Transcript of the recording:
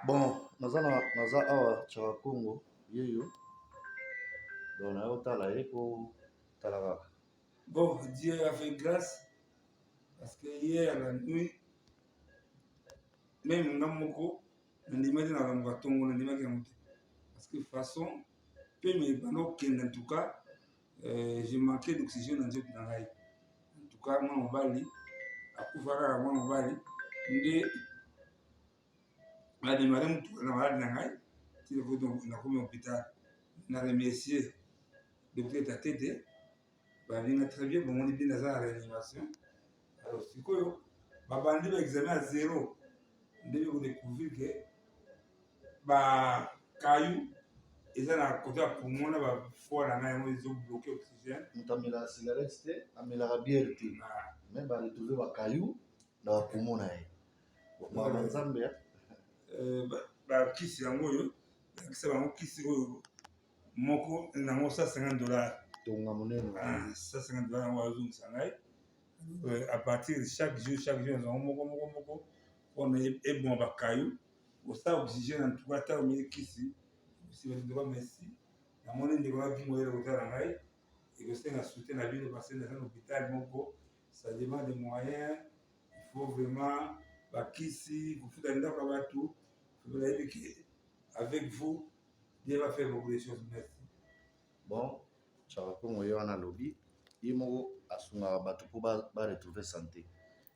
Bon naza na naza awa chaka kongo yeyo donc naye otala ye po tala kaka bon dieu a fait grâce parce que hier la nuit meme nga moko nandimaki na lango ya tongo nandimaki yango te parce que façon pe mibanda okende en tout cas Eh, je manque d'oxygène na nzoto na ngai. En tout cas, mwana mobali akufa kaka mwana mobali nde bademare motuka na maladi na ngai nakomi hôpital na remercier docteur tatete babinga très bien bomoni bino aza na réanimation alors sikoyo babandi ba examen ya zero nde bekodecouvrir ke ba kayu eza na kote ya poumon na ba foie na ngai yango ezo bloke oxygène moto amelaka cigarette te amelaka biere te ah. mais ba retrouve ba kayu na ba poumon na ye baba nzambe ya euh, bakisi yango oyo bakisa bango kisi oyo moko nango 150 dollar tonga monene 150 ah, dollar yango azongisa ngai euh, à partir de chaque jour chaque jour yango moko moko moko mpona eboma bakayu osa oblige na ntuka ata omeli kisi osibalindoka mesi na moni ndeko naki moyele kotala ngai ekosenga soutien na bino parce naza na hôpital moko ça demande de moyen il faut vraiment bakisi kofuta ndako ya bato nayebi ke avec vous Dieu va faire beaucoup de choses merci bon chaka kongo ye wana alobi ye moko asungaka bato mpo baretrouve ba sante